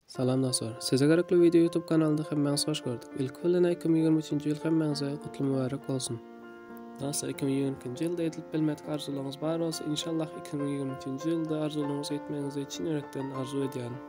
Salam dostlar. Size gerekli video YouTube kanalynda hemmäňizi hoş gördük. Ilki bilen 2023-nji ýyl hemmäňize gutly mübärek bolsun. Dostlar 2022-nji ýylda edilip bilmedik arzuwlaryňyz bar bolsa, inşallah 2023-nji ýylda arzuwlaryňyzy etmegiňizi çyn ýürekden arzuw edýärin.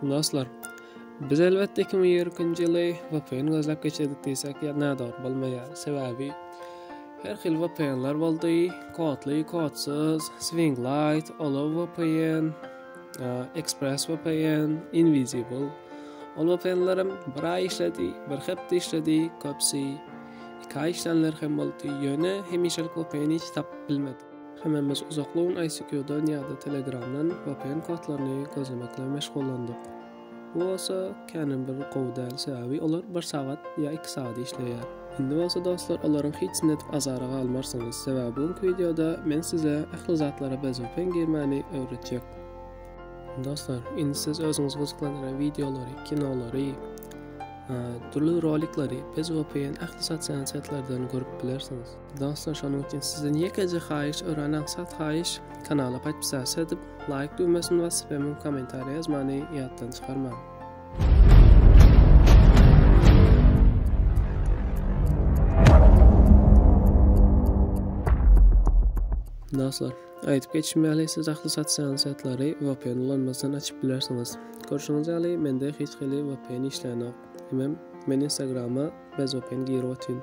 Dostlar, biz elbetde 2020-nji ýyly VPN gözläp geçirdik diýsek, ýa nädogry bolmaýar. Sebäbi her hil VPN-ler boldy, kodly, kodsyz, Swing Light, Olow VPN, e, Express VPN, Invisible. Ol VPN-lerim bir aý işledi, bir hepde işledi, köpsi iki aý işlänler hem boldy. Ýöne hemişelik VPN-i hiç tapyp bilmedim. Hemmämiz uzakly gün ICQ-dan ýa-da Telegram-dan vpn kodlaryny gözlemek bilen meşgullandyk. Bu bolsa känem bir gowy däl, sebäbi olar bir sagat ýa iki sagat işleýär. Indi bolsa dostlar olaryň hiçsini edip azara galmarsyňyz, sebäbi bu günki wideoda men size ähli zatlara bez vpn girmäni öwretjek. Dostlar, indi siz özüňizi gyzyklandyran wideolary, kinolary, dürli rolikleri bez vpn ähli sosial setlerden görüp bilersiňiz. Dostlar şonuň üçin sizden ýekeje haýyş örän aňsat haýyş kanala podpisasiýa edip laýk düwmesini basyp hem kommentariýa ýazmany ýatdan çykarmaň. Dostlar, aýdyp geçim ýaly siz ahli sosial saýtlary VPN ulanmasdan açyp bilersiňiz. Görşüňiz ýaly, mende hiç hili VPN işlänok. Hemem men Instagrama bez open girip otyryn.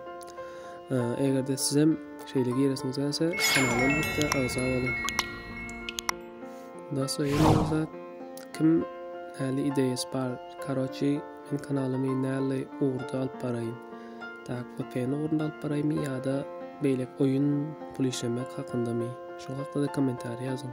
Eger-de sizem şeýle giresiňiz gelse, kanala elbetde agza boluň. Dosta ýene bir zat, kim näli ideýasy bar? Karoçi, men kanalymy näli ugurda alyp baraýyn? Tak, VPN ugrunda alyp baraýmy ýa-da beýleki oýun pul işlemek hakyndamy? Şol hakda-da kommentariýa ýazyň.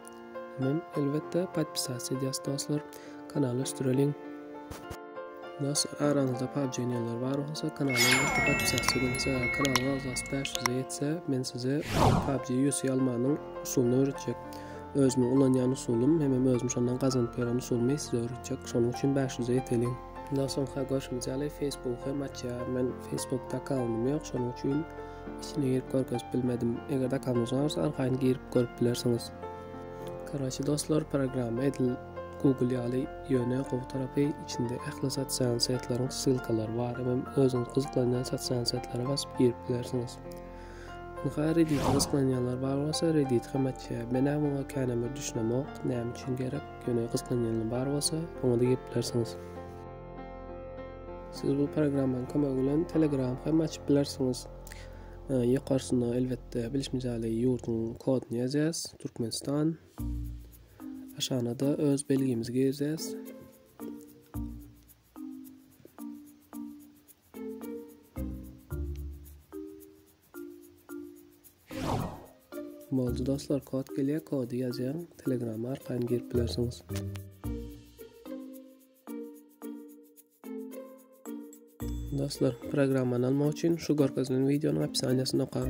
Men elbetde podpisas edýas dostlar kanala ösdüreliň. Nos araňyzda PUBG oynayanlar bar bolsa kanala podpisas ediň. Kanala agzas 500 etse men size PUBG UC almanyň usulunu öwretjek. Özüm ulanýan usulum hem özüm şondan gazanyp ýören usulumy size öwretjek. Şonuň üçin 500 eteliň. Ondan soňka görşümiz ýaly Facebook hem açýar. Men Facebookda kanalymy ýok, şonuň üçin Içine girip görkezip bilmedim. Eger dakamyzdan olsa arkaýyn girip görüp bilersiňiz. Karaşy dostlar programma edil Google ýaly ýöne gowy tarapy içinde ähli sosial setlaryň ssylkalary bar hem özüňiz gyzyklanýan sosial setlere basyp girip bilersiňiz. Ynha Reddit gyzyklanýanlar bar bolsa Reddit hem açýa. Men hem oňa känem bir düşünemok. Näme üçin gerek? Ýöne gyzyklanýanlar bar bolsa oňa da girip bilersiňiz. Siz bu programmanyň kömegi bilen Telegram hem açyp bilersiňiz. Ýokarsyna elbetde bilişimiz ýaly ýurduň koduny ýazýas, Türkmenistan. Aşagyna da öz belgimizi girýäs. Boldy dostlar, kod gelýär, kody ýazýaň, Telegram arkaýyn girip bilersiňiz. Dostlar, programmany almak üçin şu görkezilen wideonyň opsiýasyny okaň.